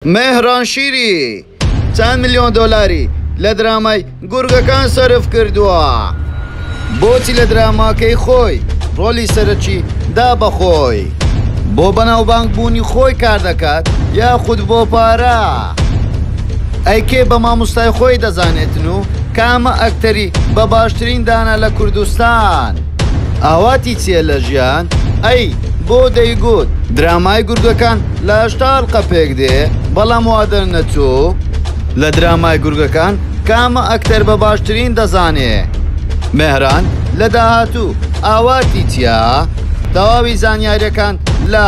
مێهران شیری چەند ملیۆن دۆلاری لە درامای گورگەکان سەرف کردووە؟ بۆچی لە دراماکەی خۆی ڕۆلی سەرەکی دا بە خۆی؟ بۆ بەناوبانگ بوونی خۆی کار دەکات یاخود بۆ پارە؟ ئەی کێ بە ماموستای خۆی دەزانێتن و کامە ئەکتەری بە باشترین دانا لە کوردستان؟ ئاواتی چیە لە ژیان ئەی بۆ دەیگوت درامای گورگەکان لە هەشتا ئەڵقە پێک دێ بەڵام وا دەرنەچوو لە درامای گورگەکان کامە ئەکتەر بە باشترین دەزانێ مێهران لە داهاتوو ئاواتی چیا تەواوی زانیاریەکان لە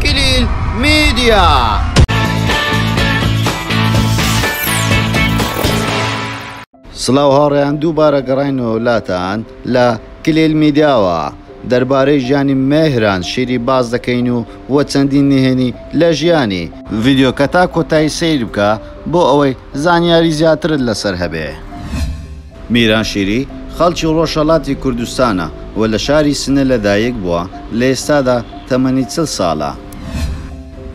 کلیل میدیا. سڵاو هاوڕێیان دووبارە گەڕاینەوە لاتان لە، کلیل میدیا، وە دەربارەی ژیانی مێهران شیری باس دەکەین و وە چەندین نهێنی لە ژیانی. ڤیدیۆکە تا کۆتایی سەیر بکە بۆ ئەوەی زانیاری زیاترت لەسەر هەبێ. میران شیری خەڵکی ڕۆژهەڵاتی کوردستانە و لە شاری سنە لە دایک بووە، لە ئێستادا تەمەنی چل ساڵە.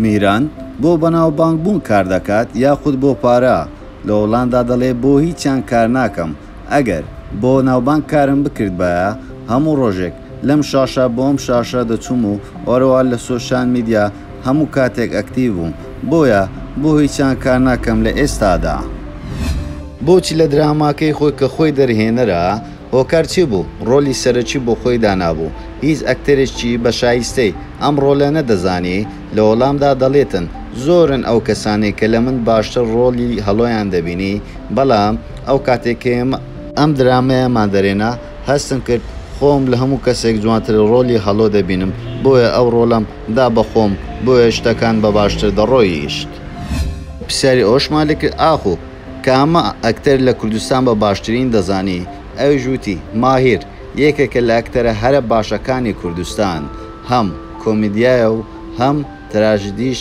میران بۆ بەناوبانگ بوون کار دەکات یاخود بۆ پارە؟ لە هۆڵاندا دەڵێ بۆ هیچیان کار ناکەم ئەگەر بۆ ناوبانگ کارم بکردبایە هەموو ڕۆژێک لەم شاشە بۆ ئەم شاشە دەچووم و ئەروەها لە سۆشیال میدیا هەموو کاتێک ئەکتیڤ بووم بۆیە بۆ هیچیان کار ناکەم لە ئێستادا. بۆچی لە دراماکەی خۆی کە خۆی دەرهێنەرە هۆکار چی بوو ڕۆلی سەرەکی بۆ خۆی دانابوو هیچ ئەکتەرێکی بە شایستەی ئەم ڕۆلە نەدەزانی لە وەڵامدا دەڵێتن، زۆرن ئەو کەسانەی کە لە من باشتر ڕۆڵی هەڵۆیان دەبینی، بەڵام ئەو کاتەی کە ئێمە. ئەم درامایەمان دەرێنا، هەستم کرد خۆم لە هەموو کەسێک جوانتر ڕۆڵی هەڵۆ دەبینم، بۆیە ئەو ڕۆڵەم دا بە خۆم، بۆیە شتەکان بە باشتر دەڕۆیشت. پرسیاری ئەوشمان لێ کرد، ئاخۆ کامە ئەکتەر لە کوردستان بە باشترین دەزانی؟ ئەویش وتی، ماهیر یەکێکە لە ئەکتەرە هەرە باشەکانی کوردستان، هەم. کۆمیدیایە و هەم تراژیدیش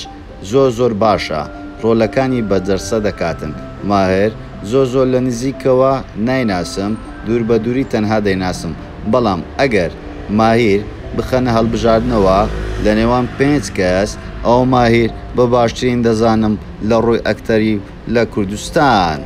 زۆر زۆر باشە ڕۆلەکانی بە جەرسە دەکاتن ماهر زۆر زۆر لە نزیکەوە نایناسم دوور بە دووری تەنها دەیناسم بەڵام ئەگەر ماهیر بخەنە هەڵبژاردنەوە لە نێوان پێنج کەس ئەوە ماهیر بە باشترین دەزانم لە ڕووی ئەکتەری لە کوردستان.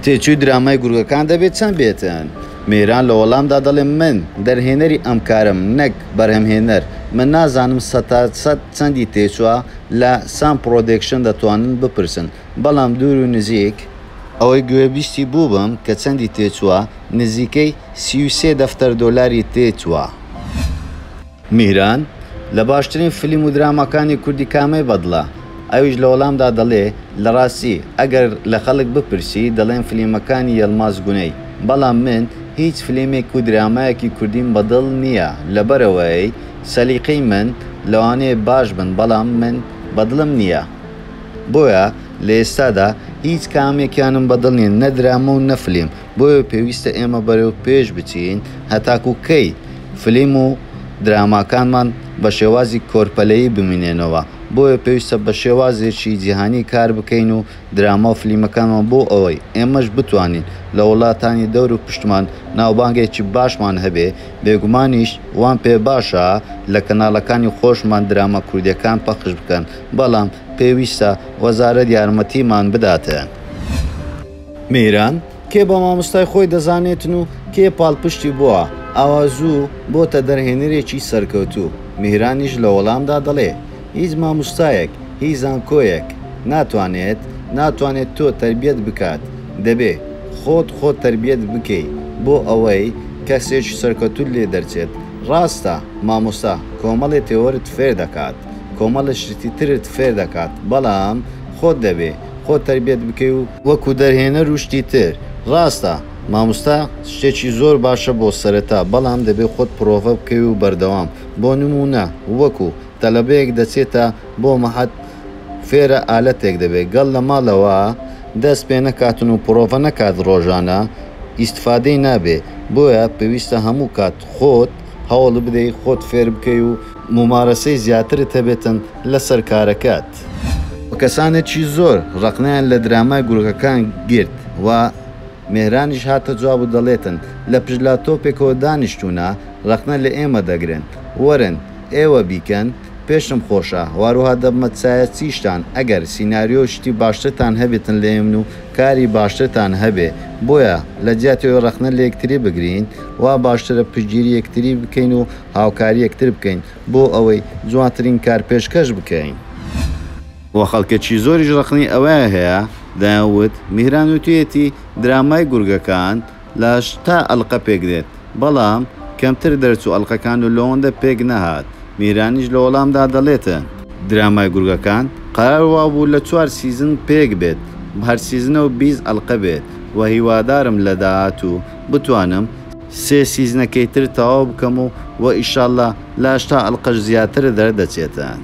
تێچووی درامای گورگەکان دەبێت چەند بێتن؟ میران لە وەڵامدا دەڵێت، من دەرهێنەری ئەم کارەم نەک بەرهەمهێنەر، من نازانم سەتا سەد چەندی تێچووە، لە سام پڕۆدەکشن دەتوانن بپرسن، بەڵام دوور و نزیک، ئەوەی گوێبیستی بووبم کە چەندی تێچووە، نزیکەی سی و سێ دەفتەر دۆلاری تێچووە. میهران، لە باشترین فلیم و دراماکانی کوردی کامەی بەدڵە؟ ئەویش لە وەڵامدا دەڵێ، لە ڕاستی ئەگەر لە خەڵک بپرسی دەڵێن فلیمەکانی یەڵماز گونەی، بەڵام من هیچ فلیمێک و درامایەکی کوردیم بەدڵ نییە لەبەرئەوەی سەلیقەی من لەوانەیە باش بن بەڵام من بەدڵم نییە بۆیە لە ئێستادا هیچ کامێکیانم بەدڵ نییە نە درامە و نە فلیم بۆیە پێویستە ئێمە بەرەو پێش بچین هەتاکو کەی فلیم و دراماکانمان بە شێوازی کۆرپەلەیی بمینێنەوە بۆیە پێویستە بە شێوازێکی جیهانی کار بکەین و دراما و فلیمەکانمان بۆ ئەوەی ئێمەش بتوانین لە وڵاتانی دەور و پشتمان ناوبانگێکی باشمان هەبێ بێگومانیش وام پێ باشە لە کەناڵەکانی خۆشمان دراما کوردیەکان پەخش بکەن بەڵام پێویستە وەزارەت یارمەتیمان بداتێ. میران، کێ بە مامۆستای خۆی دەزانێتن و کێ پاڵپشتی بووە، ئاوا زوو بۆتە دەرهێنەرێکی سەرکەوتوو. میرانیش لە وەڵامدا دەڵێ، هیچ ماموستایەک، هیچ زانکۆیەک ناتوانێت، ناتوانێت تۆ تەربیەت بکات، دەبێ خۆت خۆت تەربیەت بکەی بۆ ئەوەی کەسێکی سەرکەوتووت لێ دەرچێت. ڕاستە مامۆستا کۆمەڵێ تێۆرت فێر دەکات، کۆمەڵێ شتی ترت فێر دەکات، بەڵام خۆت دەبێ خۆت تەربێت بکەی و وەکو دەرهێنەر و شتی تر. ڕاستە ماموستا شتێکی زۆر باشە بۆ سەرەتا بەڵام دەبێ خۆت پرۆڤە بکەی و بەردەوام بۆ نمونە وەکو تەلەبەیەک دەچێتە بۆ مەعهەد فێرە ئالەتێک دەبێ گەڵ لە ماڵەوە دەست پێ نەکاتن و پرۆڤە نەکات ڕۆژانە ئیستفادەی نابێ بۆیە پێویستە هەموو کات خۆت هەوڵ بدەی خۆت فێر بکەی و مومارەسەی زیاترت هەبێتن لەسەر کارەکەت. و کەسانێکی زۆر ڕەقنەیان لە درامای گورگەکان گرت و مێهرانیش هاتە جواب و دەڵێتن لە پشت لاپتۆپێکەوە دانیشتوونە ڕەقنە لە ئێمە دەگرن وەرن ئێوە بیکەن پێشم خۆشە واروها دەبمە چایە چیشتان ئەگەر سیناریۆ و شتی باشترتان هەبێتن لە ئێمن و کاری باشترتان هەبێ بۆیە لە جیاتی ئەوەی ڕەقنە لە یەکتری بگرین وا باشترە پشتگیری یەکتری بکەین و هاوکاری یەکتر بکەین بۆ ئەوەی جوانترین کار پێشکەش بکەین. و خەڵکێکی زۆریش ڕەخنەی ئەوەیان هەیە، دەیان وت، میهران وتویەتی درامای گورگەکان لە تا ئەلقە پێک دێت، بەڵام کەمتر دەرچوو ئەلقەکان و لەوەندە پێک نەهات، میهرانیش لە وەڵامدا دەڵێتن، درامای گورگەکان قەرار وابوو لە چوار سیزن پێک بێت، هەر سیزنە و بیست ئەلقە بێت، و هیوادارم لە داهاتوو بتوانم. سێ سیزنەکەی تر تەواو بکەم و وە ئیشاللە لە هەشتا ئەلقەش زیاتر دەر دەچێتن.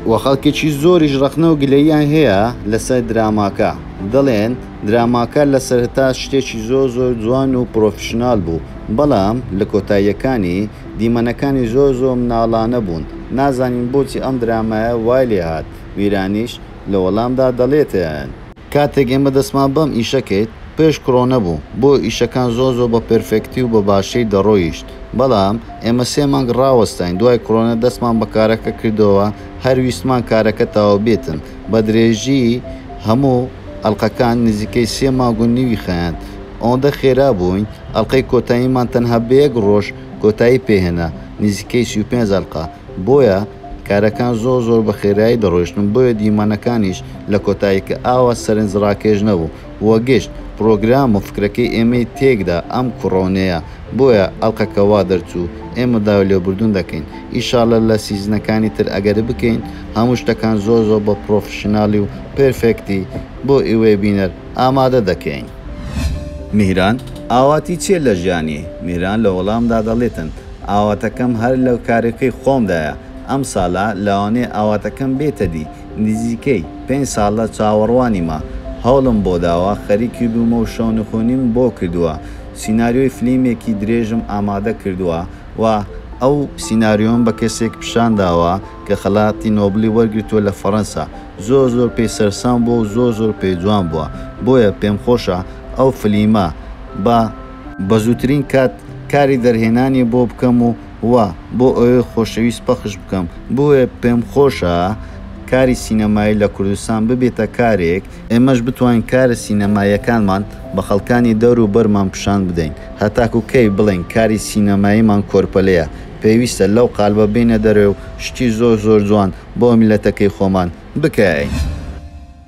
وە خەڵکێکی زۆریش ڕەخنە و گلەییان هەیە لەسەر دراماکە دەڵێن دراماکە لە سەرەتا شتێکی زۆر زۆر جوان و پڕۆفیشنال بوو بەڵام لە کۆتاییەکانی دیمەنەکانی زۆر زۆر مناڵانە بوون نازانین بۆچی ئەم درامایە وای لێهات ویرانیش لە وەڵامدا دەڵێتن کاتێک ئێمە دەستمان بەم ئیشە کرد پێش کرۆنە بوو بۆ ئیشەکان زۆر زۆر بە پێرفێکتی و بە باشی دەڕۆیشت بەڵام ئێمە سێ مانگ ڕاوەستاین دوای کرۆنە دەستمان بە کارەکە کردەوە هەر ویستمان کارەکە تەواو بێتن بە درێژی هەموو ئەڵقەکان نزیکەی سێ مانگ و نیوی خایاند ئەوەندە خێرا بووین ئەڵقەی کۆتاییمان تەنها بە یەک ڕۆژ کۆتایی پێهێنا نزیکەی سی و پێنج ئەڵقە بۆیە کارەکان زۆر زۆر بە خێرایی دەڕۆیشتن بۆیە دیمەنەکانیش لە کۆتاییکە ئاوا سەرنج ڕاکێش نەبوو و گشت پڕۆگرام و فکرەکەی ئێمەی تێکدا ئەم کوڕەونەیە بۆیە ئەڵقەکە وا دەرچوو ئێمە داوای لێبوردن دەکەین ئیشاڵە لە سیزنەکانی تر ئەگەر بکەین هەموو شتەکان زۆر زۆر بە پڕۆفشناڵی و پێرفێکتی بۆ ئیوەی بینەر ئامادە دەکەین. میهران، ئاواتی چیە لە ژیانی؟ میهران لە وەڵامدا دەڵێتن، ئاواتەکەم هەر لە کارەکەی خۆمدایە، ئەم سالە لەوانەیە ئاواتەکەم بێتە دی، نزیکەی پێنج سالە چاوەڕوانیمە، هەوڵم بۆ داوە خەریکی بوومە و شەونخوونیم بۆ کردووە، سیناریۆی فلیمێکی درێژم ئامادە کردووە و ئەو سیناریۆم بە کەسێک پیشان داوە کە خەلاتی نۆبڵی وەرگرتووە لە فەرەنسا، زۆر زۆر پێی سەرسام بووە و زۆر زۆر پێی جوان بووە، بۆیە پێمخۆشە ئەو فلیمە بە. بەزووترین کات کاری دەرهێنانی بۆ بکەم و وا بۆ ئەوێ خۆشەویست پەخش بکەم، بۆیە پێم خۆشە کاری سینەمایی لە کوردستان ببێتە کارێک، ئێمەش بتوانین کارە سینەماییەکانمان بە خەڵکانی دەور و بەرمان پیشان بدەین، هەتاکوو کەی بڵێین کاری سینەماییمان کۆرپەلەیە، پێویستە لەو قالبە بێینە دەرێ و شتی زۆر زۆر جوان بۆ میللەتەکەی خۆمان بکەین.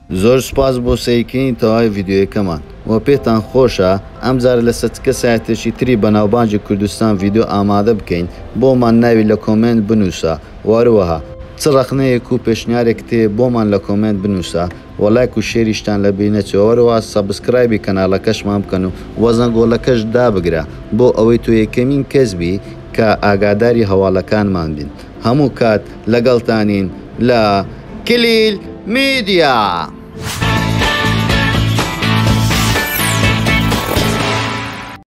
زۆر سوپاس بۆ سەیرکردنی تەواوی ڤیدیۆیەکەمان وە پێتان خۆشە ئەم جارە لەسەر چ کەسایەتێکی تری بەناوبانگی کوردستان ڤیدیۆ ئامادە بکەین بۆمان ناوی لە کۆمێنت بنوسە وە هەروەها چ ڕەخنەیەک و پێشنیارێکت هەیە بۆمان لە کۆمێنت بنوسە وە لایک و شێریشتان لەبیر نەچێ وە هەروەها سەبسکرایبی کەناڵەکەشمان بکەن و وە زەنگۆڵەکەش دابگرە بۆ ئەوەی تۆ یەکەمین کەس بی کە ئاگاداری هەواڵەکانمان بیت. هەموو کات لەگەڵتانین لە کلیل میدیا.